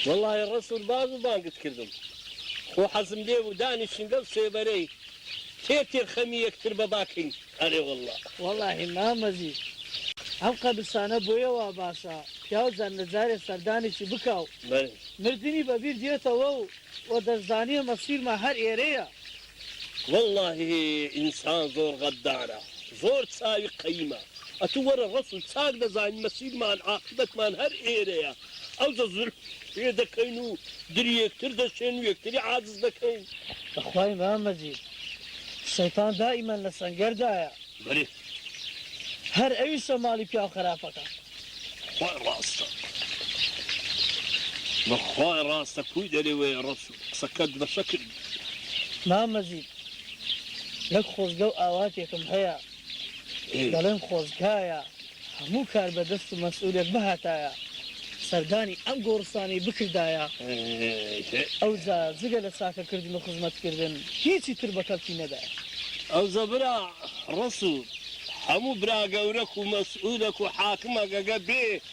وەڵاهی ڕەسوڵ باز و بانگت کردم خۆ حەزم لێ بوو دانیشین لەو سێبەرەی تێ تێ خەمی یەکتر بە باکەین ئەرێ وەڵا. وەڵاهی مام مەجید ئەم قەبرسانە بۆیە وا باشە پیاو جەند جارێ سەردانێکی بکا و مردنی بە بیر دێتەوە و وە دەشزانێ مەسیرمان هەر ئێرەیە. وەڵاهی ئینسان زۆر غەدارە زۆر چاوی قەیمە ئەتو وەرە ڕەسول چاک دەزانین مەسیرمان عاقیبەتمان هەر ئێرەیە ئەوجە زولم پێ دەکەین و دری یەکتر دەشێن و یەکتری عاجز دەکەین. بەخوای مام مەجید شەیتان دائیمەن لە سەنگەر دایە. بەرێ. هەر ئەویشە ماڵی پیاو خەراپەکە. بەخوای ڕاستە بەخوای ڕاستە کوی دەرێ وەیە ڕەسول. قسەکەت بە شەکر بوو. مام مەجید نەک خۆزگە و ئاواتێکم هەیە دەڵێم خۆزگایە هەموو کاربەدەست و مەسئولێک بهاتایە سەردانی ئەم گۆڕستانەی بکردایە ئەوجا جگە لە چاکە کردن و خزمەت کردن هیچی تر بە کەڵکی نەدایە. ئەوجا برا ڕەسوڵ هەموو برا گەورەک و مەسئولەک و حاکمەک ئەگە بێ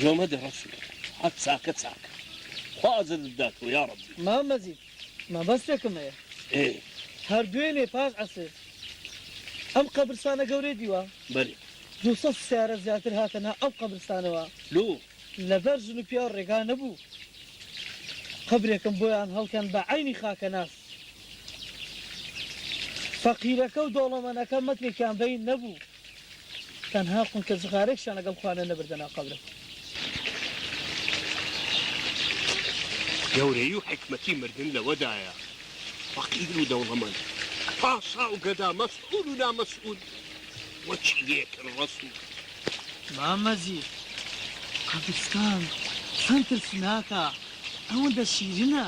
جۆمە دە ڕەش و حەت چاکە چاکە خوا ئەجرت بداتەوە یاڕەبی. مام مەجید مەبەستێکم هەیە ئێ هەر دوێنێ پاش عەسر ئەم قەبرستانە گەورەی دیوە بەلی. دوو سەد سەیارە زیاتر هاتە نا ئەو قەبرستانەوە لۆ. لەبەر ژن و پیاو ڕێگا نەبوو قەبرێکم بۆیان هەڵکەن بە عەینی خاکەناس فەقیرەکە و دەوڵەمەنەکە مەترێکیان بەین نەبوو. تەنها قونکە جغارێکشیان لەگەڵ خۆیان نەنەبردە ناو قەبرم. گەورەیی و حیکمەتی مردن لەوەدایە فەقیر و دەوڵەمەند، پاشا و گەدا، مەسئول و نامەسئول وەک یەکن. ڕەسوڵ. مامە ژیر قەبرستان چەند ترسناکە ئەوەندە شیرنە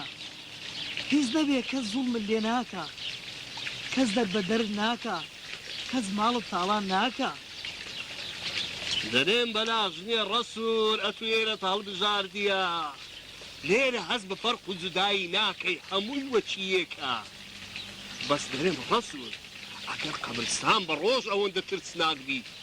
هیچ نەبێ کەس زوڵمت لێ ناکا کەس دەربەدەرت ناکا. کەس ماڵت تاڵان ناکا. دەرێم بەلاش نیە ڕەسول ئەتو ئێرەت هەڵبژاردیە لێرە هەست بە فەرق و جودایی ناکەی هەمووی وەکی یێکە بەس دەرێم ڕەسول ئەگەر قەبرستان بە ڕۆژ ئەوەندە ترسناک بیت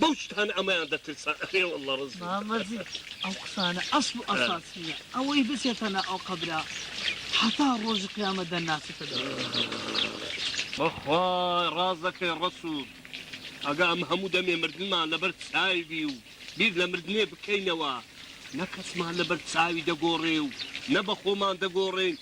بەو شتانە ئەمەیان دەترسان ئەرێ واللە ڕزم دەکەن. مامە ژیر ئەو قسانە ئەسڵ و ئەساس نییە ئەوەی بچێتە ناو ئەو قەبرە هەتا ڕۆژی قیامەت دەنناسێتە دەم بەخوا ڕاست دەکەی ڕەسوڵ ئەگا ئەم هەموو دەمێ مردنمان لەبەر چاوی بی و بیر لە مردنێ بکەینەوە نە کەسمان لەبەر چاوی دەگۆڕێ و نە بە خۆمان دەگۆڕێین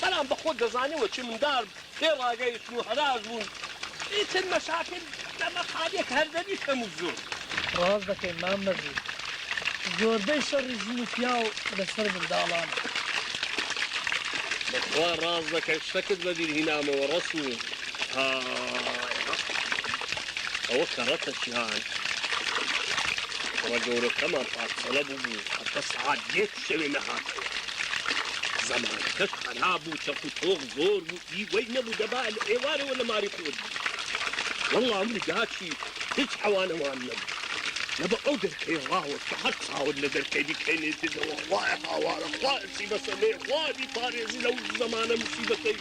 بەلام بەخۆت دەزانی وە چی مندار بێ راگەیشتن و هەراش بوون ئیتر مەشاکل دەمە خالیە کە هەردەبی کەم و زۆر. ڕاست دەکەی مام مەجید زۆربەی شەڕی ژن و پیاو لەسەر منداڵانە. بەخوا ڕاست دەکەی شتەکت بەبیر هینامەوە ڕەسوو های ئەوە کەڕەتە چیان کوڕە گەورەکەمان پارچەڵە بوبوو هەتا سەعات دێ شەوێ نەهاتەوە. زەمانەکەش خەراب و چەق و تۆق زۆر بوو ئی وەی نەبوو دەبا لە ئێوارەوە لە ماری خۆت وەڵا من داچی هیچ حەوانەوان نەبوو لە بە ئەو دەرکەی ڕاوە کە هەر چاوت لە دەرکەی بکەینێتێتەوە خوایە هاوارە خوایە سیبەسەلێ خوا بیپارێزی لەو زەمانە مسیبەتەی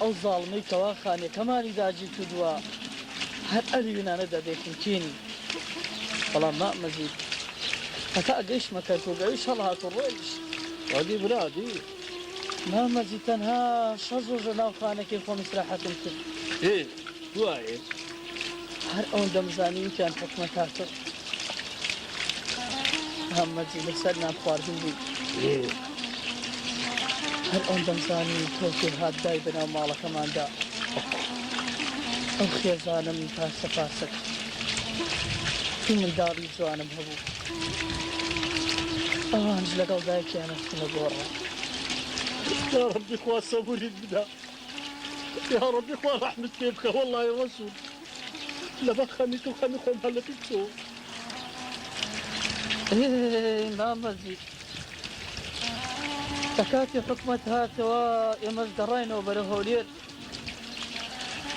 ئەو زاڵمەی کەوا خانەکەمانی داگیر کردووە هەر ئەوی وێنانە دەبێ پوتینی بەڵام مام مەجید هەتا گەیشتمە کەرکووک ئەویش هەڵهات و ڕۆیشت وادی برادی مام مەجید تەنها شەش ڕۆژە ناو خانەکەی خۆم ئیسراحەتم کرد دوایێ هەر ئەوەن دەمزانی وتیان حکومە تاتە هەمەجی لەسەر نان خواردن بوو هەر ئەوەن دەمزانی تۆکێ هات دای بەناو ماڵەکەماندا ئەو خێزانم پاسە پاسە منداڵی جوانم هەبوو ئەوانش لەگەڵ دایکیانە خنە گۆڕە ڕبی خوا سەبوری بدا. یاڕەبی خوا ڕەحمت پێ بکە وەڵای ڕەسوڵ لەبەر خەمی تو خەمی خۆم هەر لە پیت تۆ مامە زیک لە کاتی حکومەت هاتەوە ئێمەش گەڕاینەوە بەرە هەولێر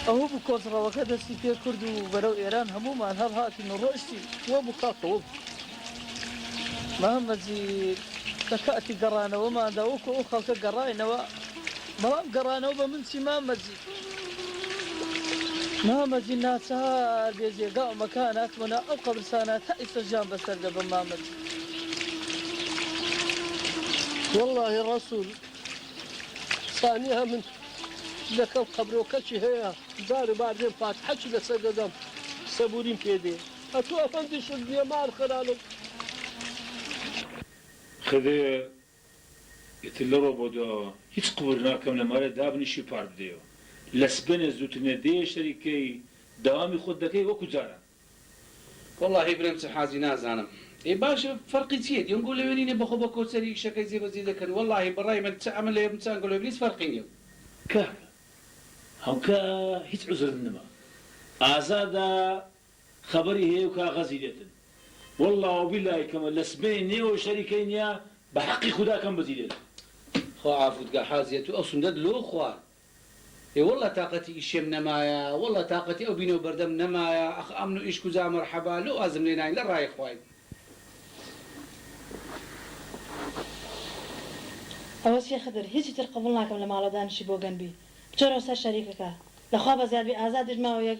ئەوە بوو کۆچڕەوەکە دەستی پێ کرد و بەرەو ئێران هەمومان هەڵهاتین و ڕۆشتی وە بوو کاکەوە بوو محەمەد جیل، لە کاتی گەڕانەوەماندا وەکو ئەو خەڵکە گەڕاینەوە، بەڵام گەڕانەوە بە من چی مامە جیل؟ محەمەد جیل، ناچار بێ جێگا و مەکان هاتمە ناو ئەم قەبرستانە تا ئیستا ژیان بەسەر دەبەم مامە جیل. وەڵاهی ڕەسوڵ سانیە من لەکەم قەبرۆکەکی هەیە جار و بار دێم فاتحەکی لەسەر دەدەم سەبووریم پێ دێ. ئەتو ئەفەندیشت نیە مار خەرانە. خدەیە ئیتر لەڕۆ بۆ دواوە هیچ قبور ناکەم لەمارێ دابنیشی و پار بدەیەوە لەسبەینێ زوترنێ دێیە شەری کەی داوامی خۆت دەکەی وەکو جاران. وەڵاهی برام چ حازی نازانم. ئێ باشە فەرقی چیە دیۆنگۆ لەوێ نینە بەخۆ بە کۆچەری ئیشەکەی جێ بەجێ دەکەن وەڵاهی بەڕای من چ ئەمە لەوێ بم چ ئەنگۆ لەوێ بم هیچ فەرقی نیە. کاکە هەوکە هیچ عوزرت نما ئازادە خەبەری هەیە و کاغەزی لێتن واللە وبیلای کەمە لە سبەی نێوە شەری کەی نیە بە حەقی خودا کەم بەجی لێتن. خوا عافوت کا حاجیە تو ئەو سندەت لۆ خوارد ئێ واللە تاقەتی ئیشێم نەمایە واللە تاقەتی ئەو بینەو بەردەم نەمایە ئەخ ئەمن و ئیش کوجا مەرحەبا لۆ وازم لێ ناین لە ڕای خوای. ئەوە چیە خدر هیچی تر قبوڵ ناکەم لە ماڵەوە دانیشی بۆگەن بی بچۆرەوە سەر شەریکەکە لە خوا بەزیاد بی ئازادیش ماوە یەک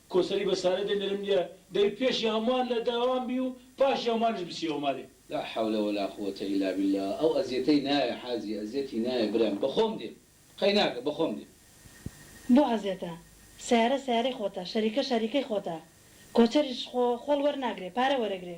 کۆسەری بە سارە دێ نەرم نیە دەبی پێشی هەموان لە داوام بی و پاشی هەموانیش بچی ئەومالێ. لا حول ولا قووەتە الا باللە ئەو ئەزیەتەی نایە حاجی ئەزیەتی نایە برام بەخۆم دێم قەیناکە بەخۆم دێم. بۆ ئەزیەتە سەیارە سەیارەی خۆتە شەریکە شەریکەی خۆتە کۆچەریش خۆ خۆڵ وەرناگرێ پارە وەرەگرێ.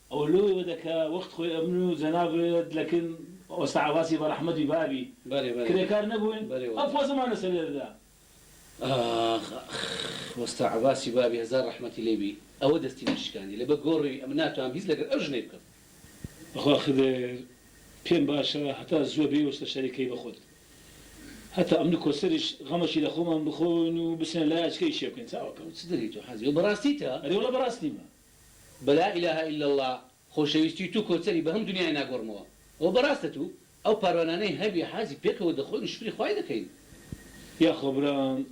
ئەوە لۆی وەدە کە وەخت خۆی ئەمن و جەنابت لە کن ئۆستا عەباسی بە ڕەحمەتی بابی بەرێ بەرێ کرێکار نەبووین بەرێ ئەم وەڵا. پۆزەمانە سەرێ دەدا. ئاخ ئاخ وەستا عەباسی بابی هەزار ڕەحمەتی لێ بی ئەوە دەستی من شکاندی لە بە گۆڕی ئەمن ناتوام هیچ لەگەر ئەو ژنەی بکەم. بەخوا خدر پێم باشە هەتا زووە بێی وەستە شەری کەی بەخۆت هەتا ئەمن و کۆسەریش غەمەکی لە خۆمان بخۆین و بچنە لای ئەچکە ئیشێ بکەین چاوەکەم. ئەوە چ دەری تۆ حاجی ئەوە بەڕاستی تە؟ ئەرێ وەڵا بەڕاست نیمە. بە لا الە الا اللە خۆشەویستی تو کۆچەری بە هەمو دنیای ناگۆڕمەوە ئەوە بە راستە تو ئەو پاروانانەی هەبی حازی پێکەوە دەخۆین و شکری خوای دەکەین. یاخوا برام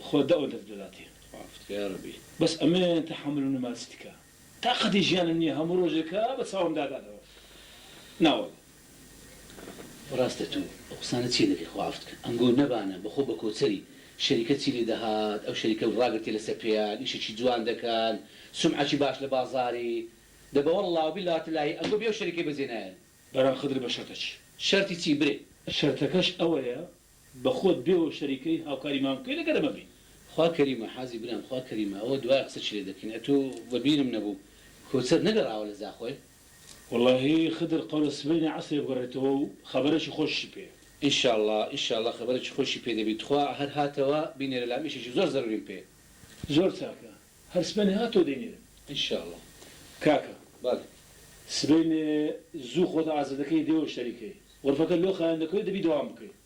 خوا دە و دەت بباتێ. خوافت کە یارەبی. بەس ئەمن تەحەمولم نەما چ دکا تاقەتی ژیانم نیە هەموو ڕۆژێکە بە چاوم داداتەوە ناوەڵا. ڕاستە تو ئەو قسانە چیە دەکەی خوا عەفت کە ئەمگۆ نەبانە بەخۆ بەکۆچەری شەریکەت چی لێ دەهات ئەو شەریکەو ڕاگرتیە لەسەر پێیان ئیشەکی جوان دەکەن سومعەکی باش لە بازاری دە بە واللە و باللە وتللەهی ئەمگۆ بێ ئەو شەریکەی بەجێ نایەن. برام خدر بە شەرتە چی. شەرتی چی برێ؟ شەرتەکەش ئەوەیە بەخۆت بێ و شەریکەی هاوکاری مام بکەی لەگەر ئەمە بی. خوا کەریمە حازی برام خوا کەریمە ئەوە دوایە قسەکی لێ دەکەین ئەتو بەبیرم نەبوو کۆچەر نەگەڕاوە لە زاخۆێ. وەڵاهی خدر قەولە سبەینێ عەسرێ بگەڕێتەوە و خەبەرێکی خۆشیشی پێ. ئیشاڵا ئیشاڵا خەبەرێکی خۆشی پێ دەبی تخوا هەر هاتەوە بینێرە لام ئیشێکی زۆر زەروریم پێیە. زۆر چاکە هەر سبەینێ هاتەوە دەینێرم. ئیشاڵا کاکە بەڵێ. سبەینێ زوو خۆت ئازدەکەی دێوە شەریکەی. غرفەکە لۆ خایەن دەکەوێ دەبی دەوام بکەی.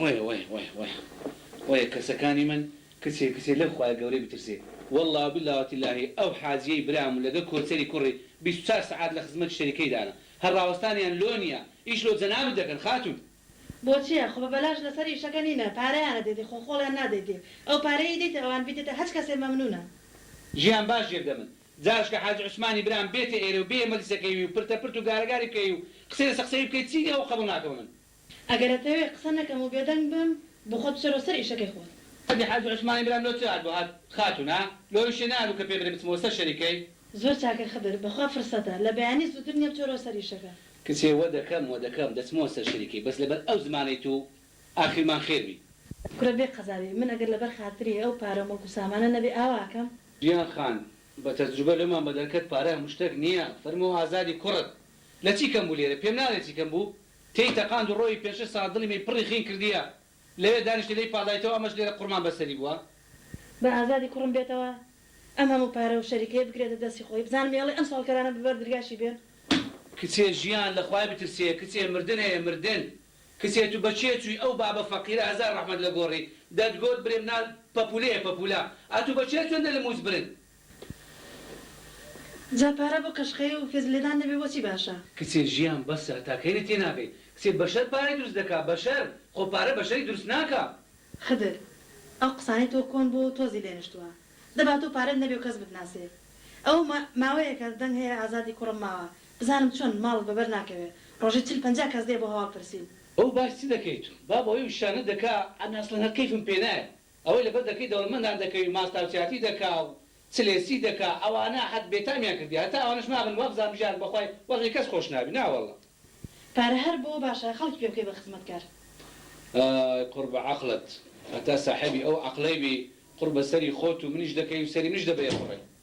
وەیە وەیە وەیە وەیە وەیە کەسەکانی من کچێ کچێ لەو خوایە گەورەی بترسێ واللە و باللە و تللەهی ئەو حاجیەی برام و لەگەڵ کۆچەری کوڕی بیست و چار سەعات لە خزمەتی شەریکەیدانە هەر ڕاوەستانیان لۆ نیە ئیش لۆ جەنابت دەکەن خاتوون. بۆ چیە خۆ بە بەلاش لەسەر ئیشەکە نینە پارەیان ئەدەیتێ خۆ خۆڵیان نادەیتێ ئەو پارەیەی دەیتە ئەوان بیدەتە هەچ کەسێ مەمنونە. ژیان باش جێ بدەمن جارشکە حاجی عوسمانی برام بێتە ئێرە و بێیە مەجلسەکەی وی و پرتە پرت و گارە گاری بکەیی و قسەی لەسە قسەی بکەی چی نیە ئەو قەبوڵ ناکەمە من. ئەگەر ئەتەوێ قسە نەکەم و بێدەنگ بم بۆ خۆت بچۆرەوە سەر ئیشەکەی خۆت. ئەدی حاجی عوسمانی برام لۆ چ هات بۆ هات خاتون ها لۆ ئیشێ نەهابو کە پێ برێ بچمەوە سەر شەریکەی. زۆر چاکە خدر بەخوا فرسەتە لە بەیانی زوتر نیە بچۆرەوە سەر ئیشەکە. کچێ وە دەکەم وە دەکەم دەچمەوە سەر شەریکەی بەس لەبەر ئەو زمانەی تو ئاخیرمان خێر بی. کورە بێ قەزابی من ئەگەر لەبەر خاتری ئەو پارە و مڵک و سامانە نەبێ ئاوا ئەکەم؟ جیان خان بە تەجروبە لۆمان بە دەرکەت پارە هەموشتەک نیە فەرموو ئازادی کوڕت لە چی کەم بوو لێرە پێم ناڵێ چی کەم بوو تێی تەقاند و ڕۆیی پێنج شەش ساڵە دڵی مەی پڕی خین کردیە لەوێ دانیشتە لێی پاڵایتەوە ئەمەش لێرە قوڕمان بە سەری بووە. با ئازادی کوڕم بێتەوە ئەم هەموو پارە و شەریکەیە بگرێتە دەستی خۆی بزانم یەڵی ئەم سواڵکەرانە بە بەر درگاشی بێن. کچێ ژیان لە خوای بترسێ کچێ مردن هەیە مردن کچێ تو بە کێ چوی ئەو بابە فەقیرە هەزار ڕەحمەت لە گۆڕی دەتگۆت برێم نا پەپولەیە پەپولە ئەتو بە کێ چۆندە لە موچ برن. جا پارە بۆ قەشقەیی و فێز لێدان نەبێ بۆچی باشە؟ کچێ ژیان بەسە هەتا کەی لێ تێناگەی کچێ بەشەر پارەی دروست دەکا بەشەر خۆ پارە بەشەری دروست ناکا. خدر ئەو قسانەی تۆ کۆن بووە و تۆزی لێ نشتووە دەبا تۆ پارەت نەبێ و کەس بتناسێ ئەوە ما ماوەیەکە دەنگ هەیە ئازادی کوڕم ماوە بزانم چۆن ماڵت بە بەر ناکەوێ ڕۆژی چل پەنجا کەس دێ بۆ هەواڵ پرسین. بەو باش چ دەکەی تو. بابە ئەو ئیشانە دەکا ئەمن ئەسڵەن هەر کەیفم پێ نایەت. ئەوەی لەبەر دەکەی دەوڵەمەندان دەکەوی ماستاو چاتی دەکا و چ لێ چی دەکا ئەوانە حەت بێتامیان کردی هەتا ئەوانەش مابن وابزانم ژیار بەخوای وەزعی کەس خۆش نابی ناوەڵا. پارە هەر بۆ باشە خەڵکی پێ بکەی بە خزمەتکار. ئای قوڕ بە عەقڵت هەتا ساحێبی ئەو عەقڵەی بی قوڕ بە سەری خۆت و منیش دەکەی و سەری منیش دەبەیە قوڕێ.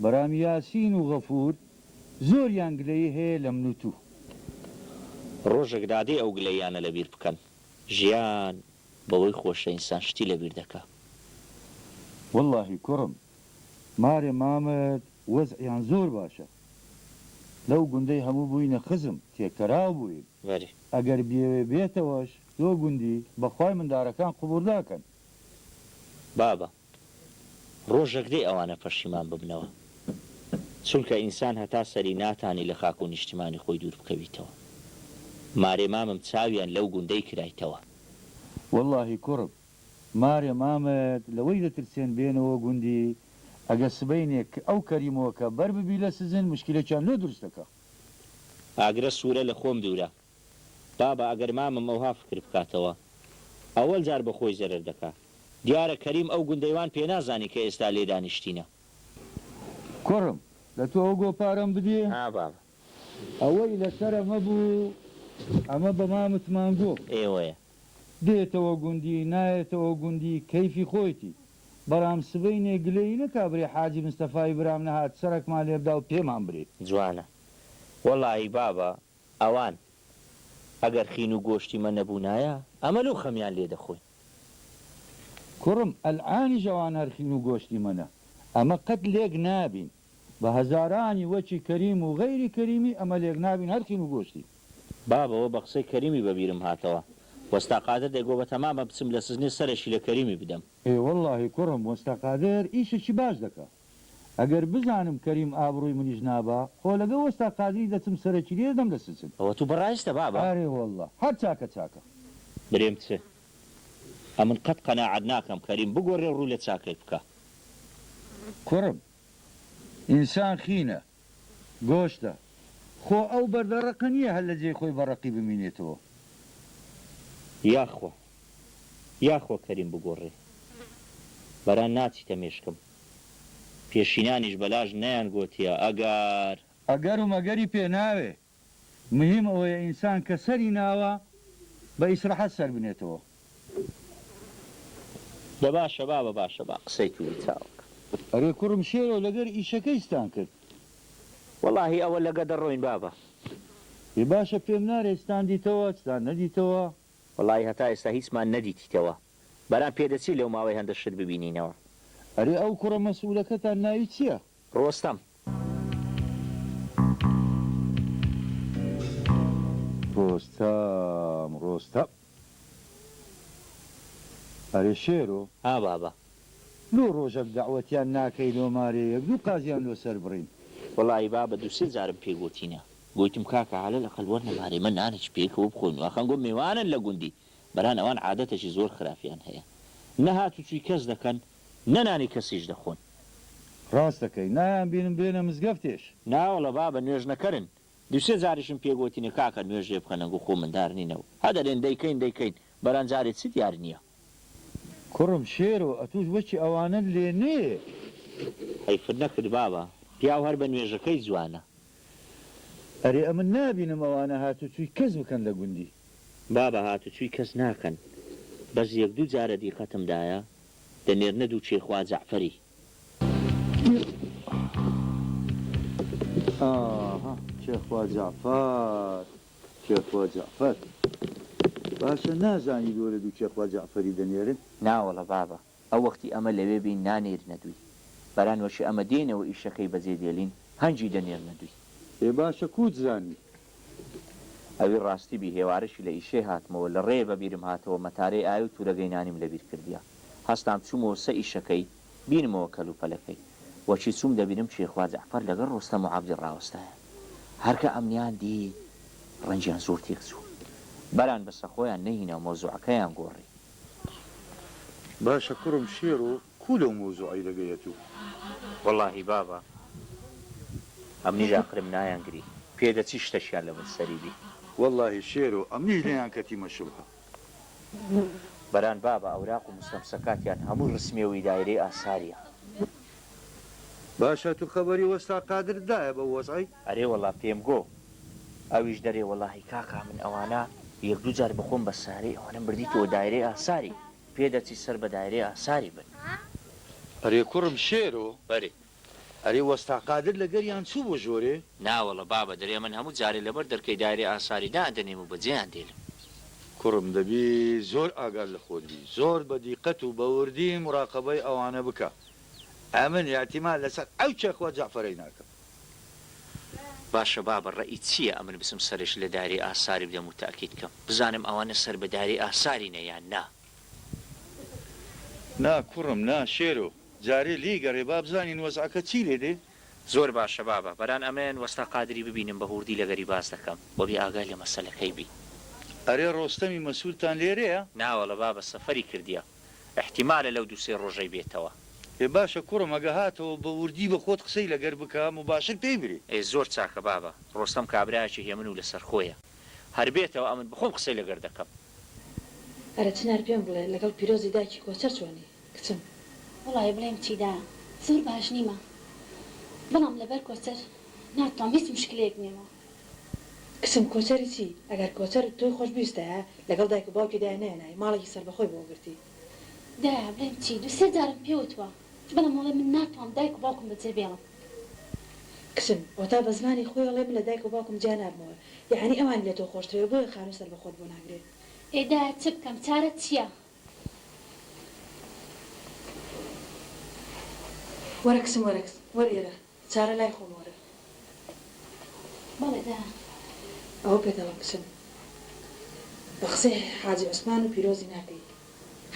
برام یاسین و غەفور زۆریان گلەیی هەیە لە من و تو. ڕۆژێک دادێ ئەو گلەییانە لەبیر بکەن ژیان بەوەی خۆشە ئینسان شتی لەبیر دەکا. وەڵاهی کوڕم مارێ مامەد وەزعیان زۆر باشە لەو گوندەی هەموو بووینە خزم تێکەراو بووین بەری. ئەگەر بیەوێ بێتەوەش لۆ گوندی بەخوای مندارەکان قبووڵ ناکەن. بابە ڕۆژەک دێ ئەوانە پەشیمان ببنەوە چونکە ئینسان هەتا سەری ناتانی لە خاک و نیشتیمانی خۆی دوور بکەویتەوە مارێ مامم چاویان لەو گوندەی کرایتەوە. وەڵاهی کوڕم مارێ مامت لەوەی دەترسێن بێنەوە گوندی ئەگە سبەینێک ئەو کەریمۆکە بەر ببی لە سجن مشکیلەکیان لۆ دروست دەکا. ئاگرە سورە لە خۆم دورە. بابە ئەگەر مامم ئەوها فکر بکاتەوە ئەوەل جار بە خۆی زەرەر دەکا دیارە کەریم ئەو گوندەی وان پێ نازانی کە ئێستا لێ دانیشتینە. کوڕم لە تۆ ئەو گۆ پارەم بدێ؟ ها بابە. ئەوەی لە سەرە مەبوو ئەمە بە مامت مانگۆ. ئێوەیە. دێتەوە گوندی نایەتەوە گوندی کەیفی خۆیتی برام سبەینێ گلەیی نەکا برێ حاجی مستەفای برام نەهات سەرەکمان لێبدا و پێمان برێ. جوانە وەڵاهی بابە ئەوان ئەگەر خین و گۆشتی مە نەبونایە ئەمە لو خەمیان لێ دەخۆین. کوڕم ئەلعانیش ئەوان هەر خین و گۆشتی مەنە ئەمە قەت لێک نابین بە هەزارانی وەکی کەریم و غەیری کەریمی ئەمە لێک نابین هەر خین و گۆشتی. بابە وە بە قسەی کەریمی بە بیرم هاتەوە وەستا قادر دەی گۆ بە تەمامە بچم لە سجنێ سەرەکی لە کەریمی بدەم. ئێ وەڵاهی کوڕم وەستا قادر ئیشەکی باش دەکا. ئەگەر بزانم کەریم ئابڕوی منیش نابا خۆ لەگە وەستا قادری دەچم سەرەکیریە دەم لە سچن. ئەوە تو بەڕایشتە بابە. ئارێ واللە هەر چاکە چاکە. برێم چ ئە من قەت قەناعەت ناکەم کەریم بگۆرێ و ڕوو لە چاکەی بکا. کوڕم ئینسان خینە گۆشتە. خۆ ئەو بەردە ڕەقە نییە هەر لە جێی خۆی بە ڕەقی بمینێتەوە. یاخوا. یاخوا کەریم بگۆڕێ. برا ناچیتە مێشکم. پێشینانیش بەلاش نەیانگۆتیە ئەگەر. ئەگەر و مەگەری پێ ناوێ. مهیم ئەوەیە ئینسان کە سەری ناوە بە ئیسرحەت سەر بنێتەوە. دە باشە بابە باشە با قسەی توری چاوگ. ئەرێ کوڕم شێرۆ لەگەر ئیشەکەی ستان کرد. وەڵاهی ئەوە لەگە دەڕۆین بابە. ئێ باشە پێم نارێی ستان دیتەوە چتان نەدیتەوە. وەڵاهی هەتا ئێستا هیچمان نەدیتیتەوە برام پێدەچێ لەو ماوەی هەندە شت ببینینەوە. ئەرێ ئەو کوڕە مەسئولەکەتان ناوی چیە؟ ڕۆستەم. ڕۆستەم ڕۆستەم. ئەرێ شێرۆ! ها بابە. لۆ ڕۆژەک دەعوەتیان ناکەی لۆ مارێیەک دوو قازیان لۆ سەر بڕین. وەڵاهی بابە دوو سێ جارم پێ گۆتینە. گۆیتم کاکە عەلەلەقەل وەرنە مارێ مە نانێکی پێکەوە بخۆین واخان گۆ مێوانن لە گوندی. بران ئەوان عادەتەکی زۆر خراپیان هەیە نە هاتوچوی کەس دەکەن نە نانی کەسیش دەخۆن. ڕاست دەکەی نایان بینم بێنە مزگەفتێش. ناوەڵە بابە نوێژ نەکەرن. دوو سێ جاریشم پێ گۆتینە کاکە نوێژ لێ بکەنە گو خۆ مندار نینە و هە دەرێن دەیکەین دەیکەین بران جارێ چ دیار نیە. کوڕم شێرۆ ئەتوش وەکی ئەوانەت لێ نێ. حەیفت نەکرد بابە پیاو هەر بە نوێژەکەی جوانە. ئەرێ ئەمن نابینم ئەوانە هاتوچوی کەس بکەن لە گوندی. بابە هاتوچوی کەس ناکەن بەس یەک دوو جارە دیقەتم دایە دەنێرنە دوچێ خوا جەعفەری. ئاها کێ خوا جەعفەر کێ خوا جەعفەر باشە نازانیت وەرە دوچێ خوا جەعفەری دەنێرن. ناوەڵە بابە ئە وەختی ئەمە لەوێ بین نانێرینە دووی بەران وەشی ئەمە دێینەوە ئیشەکەی بەجێ دێلین هەنجی دەنێرنە دووی. ئێ باشە کووت زانی؟ ئەوی ڕاستی بی هێوارەشی لە ئیشەی هاتمەوە لە ڕێێ بە بیرم هاتەوە مەتارەی ئای و توورەگەی نانیم لە بیر کردیە هەستام چوومەوە سە ئیشەکەی بینمەوە کەل و پەلەکەی وەچی چووم دەبینم چێخوا جەعفەر لەگەڵ ڕۆستەم و عەبدی ڕاوەستایە هەر کە ئەمنیان دی ڕەنجیان زۆر تێک چوو بەران بەسە خۆیان نەهیناو مەوزوعەکەیان گۆڕی باشە کوڕم شێرۆ کوو لەو مەوزوعەی دەگەیەتوو. وەڵاهی بابە ئەمنیش ئاقرم نایانگری پێدەچی شتەکیان لەبن سەری بی. وەڵاهی شێرۆ ئەمنیش نەیان کەتیمە شوبهە. بران بابە ئەوراق و مستەمسەکاتیان هەمووی ڕسمیە وی دایرەی ئاساریە. باشە تو خەوەری وەستا قادر دایە بەو وەزعەی؟ ئەرێ وەڵا پێم گۆ ئەویش دەرێ وەڵاهی کاکا من ئەوانە یەک دوو جار بەخۆم بە سارەی ئەوانەم بردیتەوە دایرەی ئاساری پێ دەچی سەر بە دایرەی ئاساری بن. ئەرێ کوڕم شێرۆ بەری. ئەرێ وەستا قادر لەگەریان چوو بۆ ژۆرێ؟ ناوەڵە بابە درێ من هەموو جارێ لەبەر دەرکەی دایرەی ئاساری دادەنێم و بەجێیان دێلم. کوڕم دەبی زۆر ئاگات لە خۆت بی زۆر بە دیقەت و بە وردی موراقەبەی ئەوانە بکە. ئەمن ئیعتیماد لەسەر ئەو چەقوە جەعفەرەی ناکەم. باشە بابە ڕەئیت چییە ئەمن بچم سەرش لە داری ئاساری بدەم و تەئکید کەم بزانم ئەوانە سەر بە داری ئاسارینە یان نا؟ نا کوڕم نا شێرۆ جارێ لێی گەڕێ با بزانین وەزعەکە چی لێ دێ. زۆر باشە بابە بەران ئەمن وەستا قادری ببینم بە هووردی لەگەری باس دەکەم وە بێ ئاگای لە مەسەلەکەی بی. ئەرێ ڕۆستەمی مەسولتان لێرەیە؟ ناوەڵە بابە سەفەری کردیە. ئیحتیمالە لەو دوو سێ ڕۆژەی بێتەوە. ئێ باشە کوڕم ئەگە هاتەوە بە وردی بە خۆت قسەی لەگەر بکە موباشر پێی برێ. ئێ زۆر چاکە بابە ڕۆستەم کابرایەکی هێمن و لەسەرخۆیە هەر بێتەوە ئەمن بخۆم قسەی لەگەر دەکەم. ئەرە چنار پێم بڵێ لەگەڵ پیرۆزی دایکی کۆچەر چۆنی کچم. وەڵای بڵێم چی دا زۆر باش نیمە بەڵام لەبەر کۆچەر ناتوام هیچ مشکلەیەک نیە. کچم کۆچەری چی؟ ئەگەر کۆچەر تۆی خۆشبویستایە لەگەڵ دایک و باوکی دایە نەیەنای ماڵێکی سەربەخۆی بۆ گرتی. دایە بلێم چی دوو سێ جارم پێ وتوە بەلام ئەڵێ من ناتوام دایک و باوکم بە جێ بێڵم. کچم ئەوەتا بە زمانی خۆی ئەڵێ من لە دایک و باوکم جیا نابمەوە یەعەنی ئەوانی لە تۆ خۆشترە بۆیە خانوو سەربەخۆت بۆ ناگرێ. ئێ دایە چ بکەم چارەت چیە؟ وەرە کچم وەرە کچم وەرە ئێرە چارە لای خۆم وەرە. بەڵێ دە ئەوە پێ دەڵێم بچن. بە قسەی حاجی عوسمان و پیرۆزی ناکەی.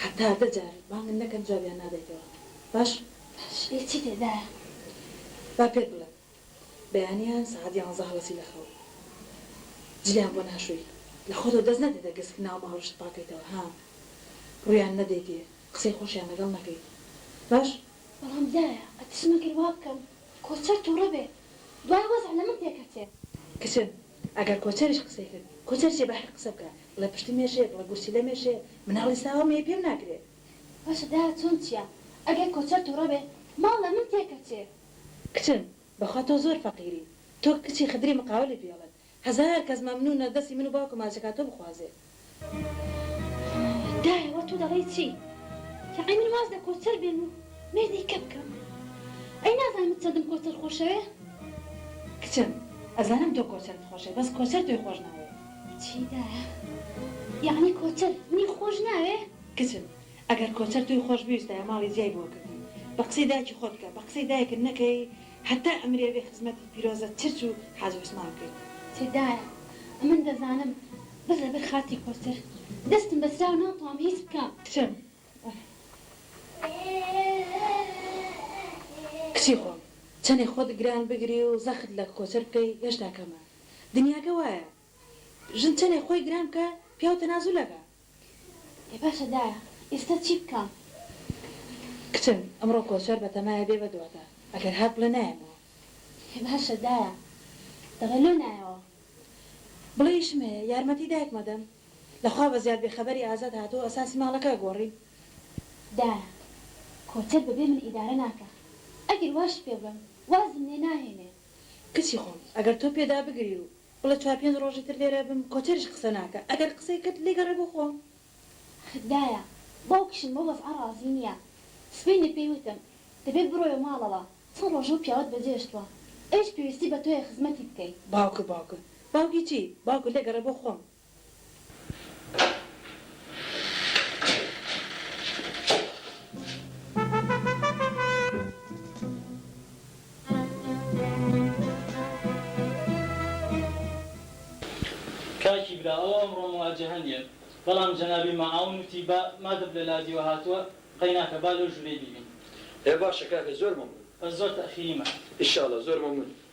حەتتا دە جار بانگت نەکەن جوابیان نادەیتەوە. باش؟ باش ئێ چی تێدایە؟ با پێت بڵێم بەیانیان سەعات یانزە هەڵەسی لە خەو جلیان بۆ ناشۆی. لە خۆتەوە دەست نەدەیتە گسک ناو ماڵیشت پاکەیتەوە ها؟ ڕوویان نەدەیتێ قسەی خۆشیان لەگەڵ نەکەی. باش؟ بەڵام دایە ئەترسم ئەگەر وا بکەم کۆچەر توڕە بێ دوای وەزع لە من تێکەچێ. کچم ئەگەر کۆچەریش قسەی کرد کۆچەر چیە بەحەق قسە بکە بڵێ پشتم ئێشێ بڵێ گورچیلەم ئێشێ مناڵی ساوام هەیە پێم ناکرێ. باشە دایە چۆن چیە ئەگەر کۆچەر توڕە بێ ماڵ لە من تێکەچێ. کچم بەخوا تۆ زۆر فەقیری تۆ کچی خدری مقاولی پێڵت هەزار کەس مەمنونە دەستی من و باوکم ماچەکات تۆ بخوازێ. دایە وە تۆ دەڵێی چی یەعنی من واز لە کۆچەر بێنم و مێردی کە بکەم ئەی نازانی من چەندم کۆچەر خۆشەوێ. کچم ئەزانم تۆ کۆچەرت خۆشەوێ بەس کۆچەر تۆی خۆش ناوێ. چی دایە یەعنی کۆچەر منی خۆش ناوێ. کچم ئەگەر کۆچەر تۆی خۆش بویستایە ماڵی جیای بۆ کردن بە قسەی دایکی خۆت بکە بە قسەی دایکت نەکەی هەتا ئەمری ئەبێ خزمەتی پیرۆزە چرچ و حاجی عوسمان بکەی. چی دایە ئەمن دەزانم بەس لەبەر خاتری کۆچەر دەستم بەسراوە ناتوام هیچ بکەم. کچم کچی خۆم چەنێ خۆت گران بگری و زەخت لە کۆچەر بکەی هێشتا کەمە دنیاکە وایە. ژن چەنێ خۆی گران بکا پیاو تەنازول ئەکا. ئێ باشە دایە ئیستە چی بکەم. کچم ئەمڕۆ کۆچەر بەتەمایە بێ بەدواتە ئەگەر هات بڵێ نایەمەوە. ئێ باشە دایە دەڵێ لۆ نایەوە. بڵێ ئیشم هەیە یارمەتی دایکم ئەدەم. لە خوا بەزیاد بێ خەبەری ئازاد هاتووە ئەساسی ماڵەکە ئەگۆڕین. دایە کۆچەر بەبێ من ئیدارە ناکا ئەگەر واشی پێ بڵێم وازم لێ ناهێنێ. کچی خۆم ئەگەر تۆ پێ دابگری و بڵێ چوار پێنج ڕۆژی تر لێرە بم کۆچەریش قسە ناکا ئەگەر قسەی کرد لێ گەڕێ بۆ خۆم. دایە باوکیشم بەو وەزعە ڕازی نیە سبەینێ پێی وتم دەبێ بڕۆیە ماڵەوە چەند ڕۆژە و پیاوەت بە جێ شتوە ئەویش پێویستی بە تۆیە خزمەتی بکەی. باوکە باوکە باوکی چی باوکە لێ گەڕێ بۆ خۆم. کاکی برا ئەوە ئەمڕۆ موواجەهە نیە بەڵام جەنابی مەعاون وتی با مادەم لە لادیوە هاتووە قەیناکە با لەو ژورەی بیبین. ئێ باشە کاکە زۆر مەمنون. بەس زۆر تەئخیری مەکە. ئیشاڵا زۆر مەمنون.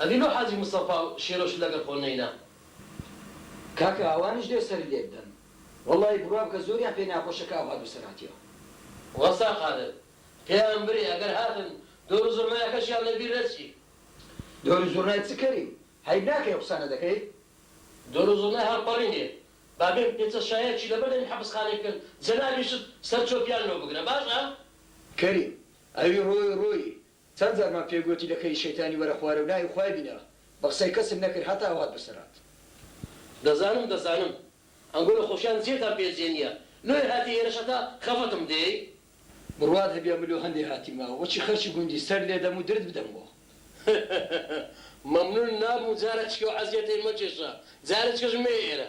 ئەبینۆ حاجی مستەفا و شێرۆشت لەگەڵ خۆ نەینا. کاکە ئەوانیش لێ سەری لێک دەن. وەڵاهی بڕوا بکە زۆریان پێ ناخۆشە کە ئەو هاتوو سەر هاتیەوە. وەستا قادر پێیان برێ ئەگەر هاتن دۆر و زوڕنایەکەشیان لە بیر نەچی. دۆر و زوڕنای چ کەریم؟ هەیب ناکەی ئەو قسانە دەکەی؟ دۆر و زوڕنای هەڵپەڕینێ با بێن پێچە شایەکی لە بەر دەمی حەپسخانەی بکەن جەنابیشت سەر چۆپیان لۆ بگرە باشە. کەریم ئەوی ڕۆی ڕۆیی چەند جارمان پێ گۆتی لە کەری شەیتانی وەرە خوارێ و ناوی خوای بینە بە قسەی کەسم نەکرد هەتا ئەو هات بە سەرات. دەزانم دەزانم ئەنگۆ لە خۆشیان جێتان پێ جێ نیە لۆیە هاتی ئێرەش هەتا خەفەتم دێی. بڕوات هەبیا من لۆ هەندێ هاتیم ئاوە وەچی خەرکی گوندی سەر لێ دەم و درت بدەم بۆ. مەمنون نابم جارەکیش ئەو عەزیەتەی مەکێشە جارەکیش مەیە ئێرە.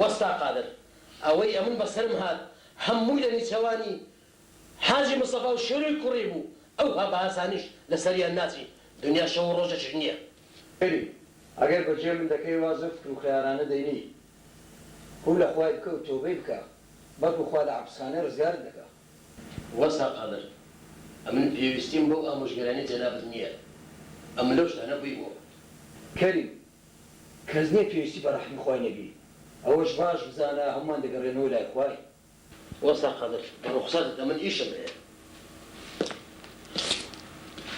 وەستا قادر، ئەوەی ئەمن بە سەرم هات هەمووی لە نیچەوانی حاجی مستەفا و شێروی کوڕی بوو، ئەوها بە ئاسانیش لە سەریان ناچی، دنیا شەو و ڕۆژێکیش نییە. ببی ئەگەر بە جێ من دەکەی وا زۆر فکر و خەیارانە دەینی، ڕوو لە خوای بکە و تۆبەی بکە، بەڵکو خوا لە عەپسخانەی ڕزگارت دەکا. وەستا قادر، ئەمن پێویستیم بەو ئامۆژگەرانی جەنابت نییە، ئەمن لەو شتانە بوویمەوە. کەریم، کەس نیە پێویستی بە ڕەحمی خوای نەبی ئەوەش باش بزانە هەموومان دەگەڕێنەوە لای خوای. وەستا قەدر بە ڕوخسارتت ئەمن ئیشم هەیە.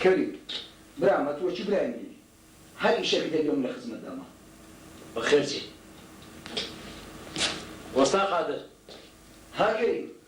کەریم برام ئەتوە چ برای منی هەر ئیشەکت هەبێ من لە خزمەتدامە. بەخێرچی وەستا قادر. ها کەریم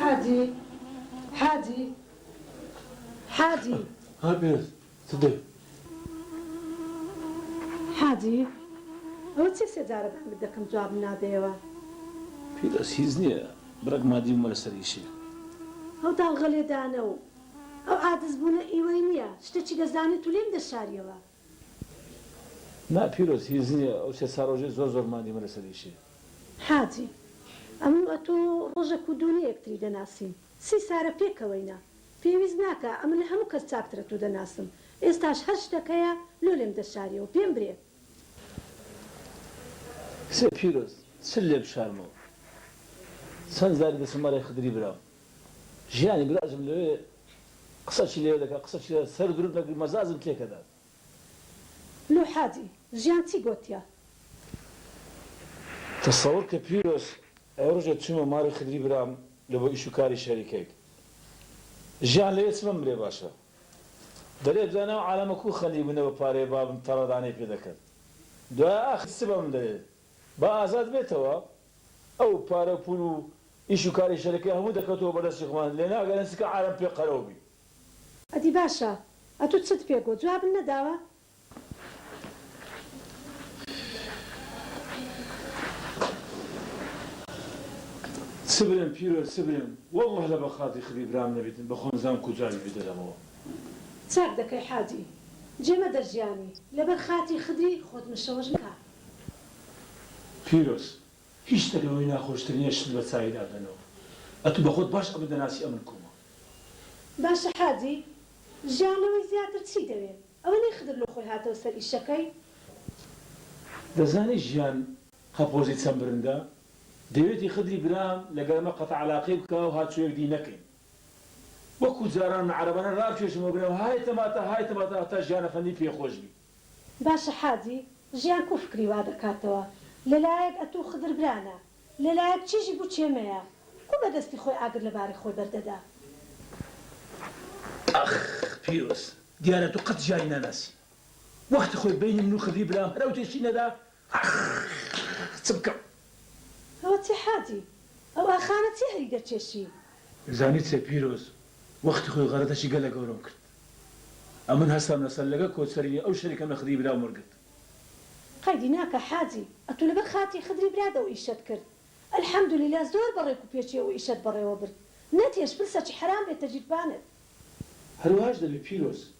حاجی حاجی حاجی ها پێنج چ دەی؟ حاجی ئەوە چیە سێ جارە بانگت دەکەم جوابم نادەیەوە؟ پێدەس هیچ نیە برەک مادی بومە لەسەر ئیشێ. ئەو داڵغە لێدانە و ئەو عادز بوونە ئیوەی نیە. شتەچی دەزانی تو لێم دەشاریەوە. نا پیرۆز هیچ نیە ئەو سێ چار ڕۆژەی زۆر زۆر ماندیمە لەسەر ئیشێ. حاجی. ئەمن و ئەتۆ ڕۆژەک و دوو نیە یەکتری دەناسین سی سارە پێکەوەینە پێویست ناکا ئەمن لە هەموو کەس چاکترە تو دەناسم ئێستاش هەر شتەک هەیە لۆ لێم دەشاریەوە پێم برێ. کچێ پیرۆز چل لێ بشارمەوە چەن جاری دەچم مەلای خدری برام. ژیانی براژم لەوێ قسە چی لەوێ دەکا قسە چی لەوێ سەر دروت نەکری مەزازم تێک ئەدات. لۆ حاجی ژیان چی گۆتیە. تەسەور کە پیرۆز ئەوە رژێ چومە ماری خدری برام لە بۆ ئیش و کاری شەریکەیت ژیان لەوێ چ بمرێ باشە دەرێ دوای ناو عالەمە کو خەنی بونە بە پارەی بابم تەڕە دانەی پێ دەکەن دوای ئاخر چ بەمن دەرێ با ئازاد بێتەوە ئەو پارە و پول و ئیش و کاری شەرەکە هەموو دەکەوتەوە بەر دەستی خۆمان لێ ناگەرن چکە عارەم پێ قەرەو بی. ئەدی باشە ئەتو چت پێ گۆ جوابن نەداوە؟ چ برێم پیرۆ چ برێم واللە لە بەخاتری خدی برام نەبیتن بە خۆم زام کو جوابی پێ دەدەمەوە. چاک دەکەی حاجی جێ مەدە ژیانی لەبەر خاتری خدری خۆت مشەوەش مکە. پیرۆز هیچ شتە لەوەی ناخۆشترینە شت بە چاوی دادەنەوە ئەتو بەخۆت باش ئەمن دەناسی ئەمن کومە. باشە حاجی ژیان لەوەی زیاتر چی دەوێ ئەوە نەی خدر لۆ خۆی هاتەوە سەر ئیشەکەی. دەزانی ژیان قەپۆزی چەند برندە دەوێتی خدری برام لەگەر ئەمە قەتع علاقەی بکە و هاتچۆ یەک دی نەکەین وەکو جاران من عەرەبانە رابکێشمەوە برام های تەماتە های تەماتە هەتا ژیان ئەفەندی پێ خۆش بی. باشە حاجی ژیان کو فکری وا دەکاتەوە لەلایەک ئەتوو خدر برانە لەلایەک چیژی بو چێمەیە کو بە دەستی خۆی ئاگر لە باری خۆی بەر دەدا. ئاخ پیرۆز دیارە تو قەت ژیانی ناناسی وەختی خۆی بەینی من و خدری برام هەر ئەو تێشی نەدا ئاخ چ بکەم. ئەوە چی حاجی؟ ئەو ئاخانە چیە هەری دەکێشی؟ زانی چیە پیرۆز وەختی خۆی غەرەتەکی گەلە گەورەم کرد ئەمن هەستام لە سەرلەگە کۆچەرینی ئەو شەریکەم لە خدری براوم وەرگرت. قەیدی ناکا حاجی ئەتوو لەبەر خاتری خدری برات ئەو ئیشەت کرد الحمدللە زۆر بە ڕێک و پێکی ئەو ئیشەت بەڕێوە برد نەتێش پرسە چ حەرام بێ تەجیربانت. هەروەهاش دەبێ پیرۆز.